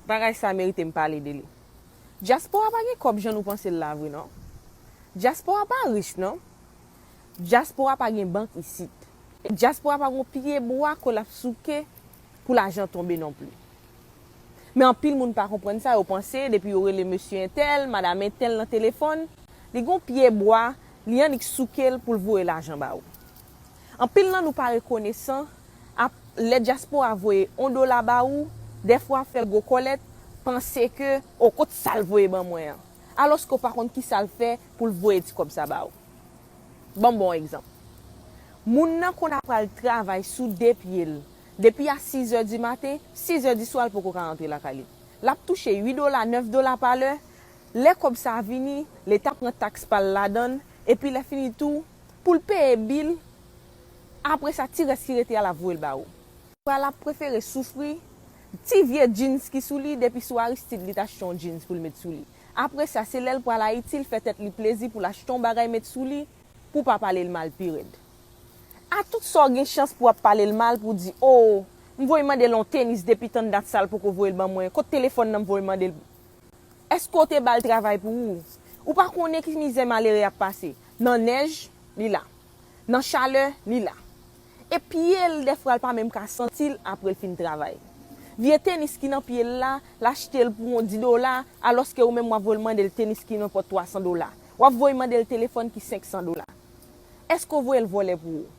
Bagay sa merite m pale de li. Dyaspora pa gen kòb jan nou panse l la vre non. Dyaspora pa rich non. Dyaspora pa gen bank isit. E dyaspora pa gon pye bwa kò l ap souke pou lajan tonbe non pli. Men anpil moun pa konprann sa, yo panse depi yo rele mesye entèl, madam entèl nan telefòn, li gon pye bwa li annik souke l pou l voye lajan ba ou. Anpil nan nou pa rekonesan ap lè dyaspora voye on dola ba ou, dèfwa fè gwo kòlèt, panse ke o kot sa l voye ban mwen an? Alòske w pa konn kisa l fè pou l voye ti kòb sa ba ou. Ban m ba w on egzanp. Moun nan konn ap al travay sou de pye l, depi a sizè di maten, sizè di swa l poko ka rantre lakay li. L ap touche ui dola, nèf dola pa lè, lè kòb sa a vini, leta pran taks pa l ladan l, epi lè fini tou, Pou l peye bil l. Apre sa ti rès ki rete a l ap voye l ba ou. Pral l ap prefere soufri. Ti vye djins ki sou li depi sou Aristide li t achte yon djins pou l met sou li. Apre sa se lè l pral Ayiti l fè tèt li plezi pou l achte yon bagay met sou li pou w pa pale l mal pi rèd. A tout sa w gen chans pou w ap pale l mal pou w di oo m voye mande l yon tenis depi tann dat sa l poko voye l ban mwen kot telefòn nan m voye mande l. Eske w te bal travay pou ou? Ou pa konnen ki mizè malere ap pase. Nan nèj, li la. Nan chalè, li la. E pye l dèfwa l pa menm ka santi l apre l fin travay. Vye tenis ki nan pye l la, l achte l pou yon di dola, alòske ou menm w ap voy mande l tenis ki nenpòt twa san dola. W ap voy mande l telefòn ki senk san dola. Eske w voye l vòlè pou ou?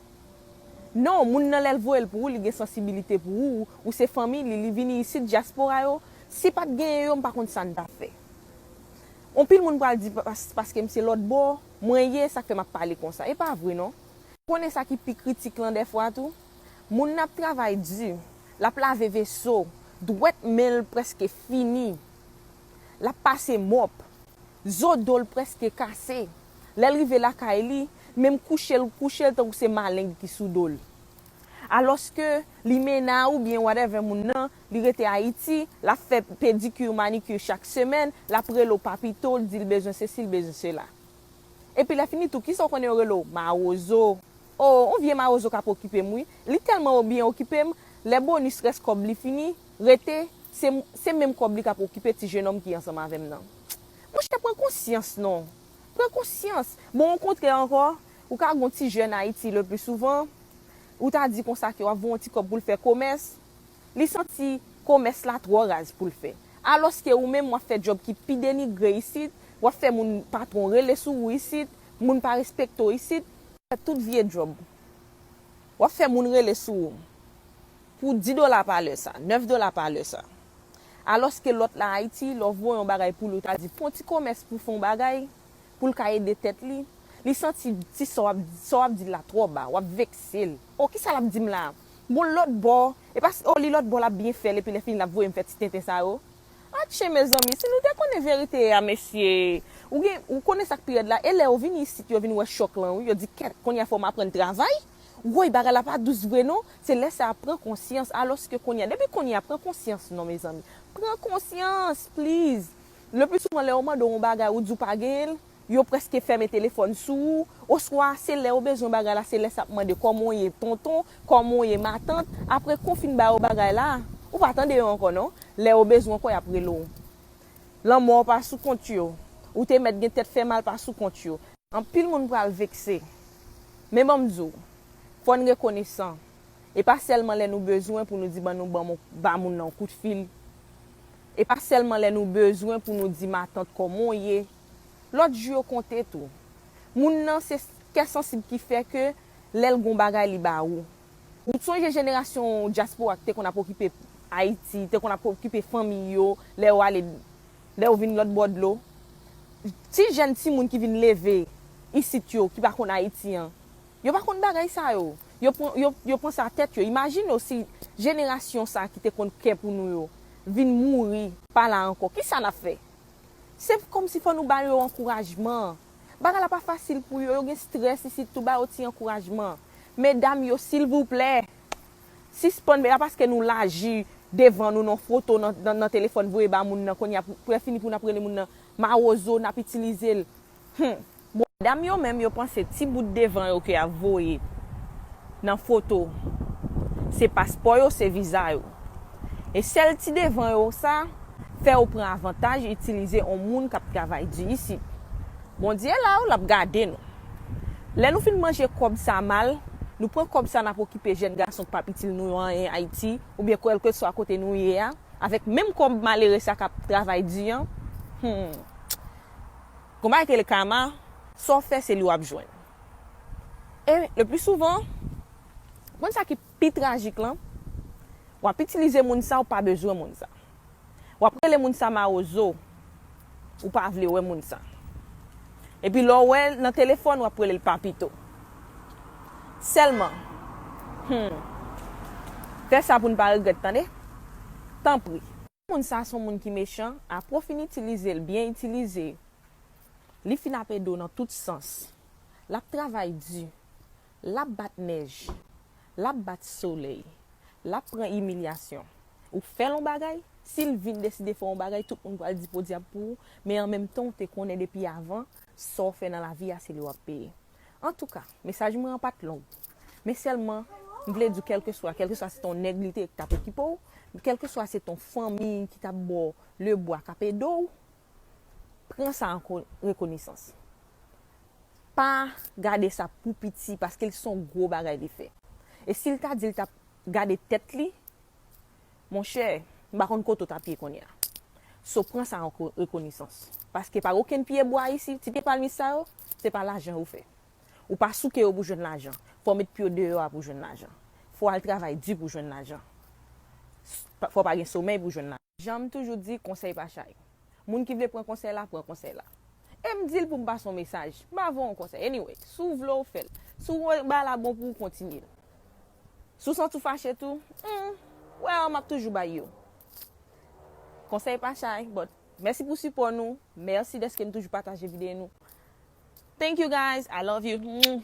Non, moun nan lè l voye l pou ou li gen sansibilite pou ou, ou se fanmi li, li vini isit, dyaspora yo, Si pat genyen yo m pa konn sa n ta fè. Onpil moun pral di paskem se lòt bò mwen ye sak fè map pale konsa. E pa vre non. Konnen sa ki pi kritik lan dèfwa tou? Moun nan ap travay di, lap lave veso, dwèt men l prèske fini, lap pase mòp, zo do l prèske kase, lè l rive lakay li, menm kouche l kouche l tankou se maleng ki sou do l. Alòske limena oubyen whatever moun nan Li rete Ayiti, lap fè pedicure manicure chak semèn, lap rele w papito, l di l bezwen sesi l bezwen sela. Epi lè fini tou kisa w konnen yo rele w? Mawozo. O, on vye mawozo kap okipe m wi. Li tèlman o byen okipe m, lè bonus rès kòb li fini, rete, se, se menm kòb li kap okipe ti jenòm ki ansanm avè m nan. Monchè pran konsyans non. Pran konsyans. Bon o kontrè ankò, ou ka gen yon ti jèn Ayiti le pli souvan, ou ta di konsa ke wap voye yon ti kòb pou l fè komès, Li santi komès la twò raz pou l fè. Alòske ou menm w ap fè djòb ki pi denigre isit, w ap fè moun patwon rele sou ou isit, moun pa respekte w isit, fè tout vye djòb, w ap fè moun rele sou ou pou di dola pa lè sa, nèf dola pa lè sa. Alòske lòt la Ayiti, lè w voye yon bagay pou li ou ta di pon ti komès pou w fè yon bagay. pou l ka ede tèt li, li santi ti sa w ap sa w ap di l la twò ba, w ap vekse l. O, ki sa l ap di m la a? Bon, l lòtbò, e pa si, o, li lòtbò l ap byen fè l epi lèfini l ap voye m fè ti tenten sa yo. Atche mezanmi, si nou te konnen verite a, mesye! Ou gen, ou konnen sa k pi rèd la, e lè yo vini isit yo vin wè chòk lan wi, yo di kèt, kounye a fò w aprann travay! Woy, bagay la pa dous vre non! Se lè sa a pran konsyans, alòske kounye a, depi kounye a, pran konsyans non mezanmi! Pran konsyans, pliz! Lepi souvan lè yo mande w yon bagay ou di w pa genyen l, yo prèske fèmen telefòn sou ou, oswa se lè yo bezwen yon bagay la se lè sa ap mande kòman w ye tonton, kòman w ye matant, apre kou fin ba yo bagay la, ou pa tande yo ankò non, lè yo bezwen w ankò y ap rele w. Lanmò w pa sou kont yo, ou te mèt gen tèt fè mal pa sou kont yo. Anpil moun pral vekse. Men ban m di w, fò n rekonesan. E pa sèlman lè nou bezwen pou nou di ban nou ban m yon ba moun nan yon kout fil. E pa sèlman lè nou bezwen pou nou di matant kòman w ye. Lòt jou yo konte tou. Moun nan se kè sansib ki fè ke lè l gen yon bagay li ba ou. Ou t sonje jenerasyon dyaspora ki te konn ap okipe Ayiti, te konn ap okipe fanmiy yo lè yo ale lè yo vin lòt bò dlo? Ti jèn timoun ki vin leve isit yo ki pa konn Ayiti an. Yo pa konn bagay sa yo. Yo pran, yo, yo pran sa tèt yo. Imajine w si jenerasyon sa ki te konn kè pou nou yo vin mouri, pa la ankò, kisa n ap fè? Se kòm si fò nou ba yo ankourajman. Bagay la pa fasil pou yo, yo gen strès isit tou, ba yo ti ankourajman. Medam yo, silvouplè, sispann men, se pa paske nou laji devan nou nan foto, nan, nan telefòn voye ba moun nan, kounye a, pou lè fini pou n ap rele moun nan mawozo, n ap itilize l. Humm modam yo menm yo panse ti bout devan yo ke yap voye nan foto se paspò yo se viza yo e sèl ti devan yo sa fè ou pran avantaj itilize on moun kap travay di isit Bondye la wi lap gade nou lè nou fin manje kòb sa mal nou pran kòb sa nap okipe jèn gason ki pap itil nou yo anyen Ayiti oubyen kwèlkeswa kote nou ye a avèk menm kòb malere sa kap travay di an humm. Konpa rete le karma sa w fè se li wap jwenn. E le pli souvan ou konn sa ki pi trajik lan wap itilize moun sa ou pa bezwen moun sa. Wap rele moun sa mawozo ou pa vle wè moun sa. Epi lè w wè l nan telefòn wap rele l papito. Sèlman humm fè sa pou n pa regrèt tande tanpri. Moun sa son moun ki mechan apre w fin itilize l byen itilize li fin ap ede w nan tout sans lap travay di lap bat nèj lap bat solèy lap pran imilyasyon ou fèl on bagay si l vin deside fè on bagay tout moun pral di podyab pou ou men an menm tan w te konnen depi avan sa w fè nan lavi a se li wap peye. Antouka, mesaj mwen an pa t long. Men sèlman, m vle di w kèlkeswa, kèlkeswa se t on nèg li te ye ki t ap okipe w, kèlkeswa se t on fanmi ki t ap ba w lebwa, k ap ede w, pran sa an rekonesans. Pa gade sa pou piti paske l s on gwo bagay li fè. E si l ta di l t ap gade tèt li, Monchè, m pa konn kote w tap ye kounye a. So pran sa an rekonesans. Paske pa okenn pye bwa isi, ti pye palmis sa yo, se pa lajan yo fè. Ou pa souke yo pou jwenn lajan. Fò w met pye w deyò a pou w jwenn lajan. Fò w al travay di pou w jwenn lajan. Fò w pa gen somèy pou w jwenn lajan. Jan m toujou di, konsèy pa chay. Moun ki vle pran konsèy la, pran konsèy la. E m di l pou m pase yon mesaj. M pa voye yon konsèy. Anyway, si w vle w fè l. Si w wè bagay la bon pou w, kontinye l. Si w santi w fache tou, humm, well map toujou bay yo konsèy pa chay but mèsi pou sipò nou, mèsi dèske nou toujou pataje videyo nou thank you guys, I love you.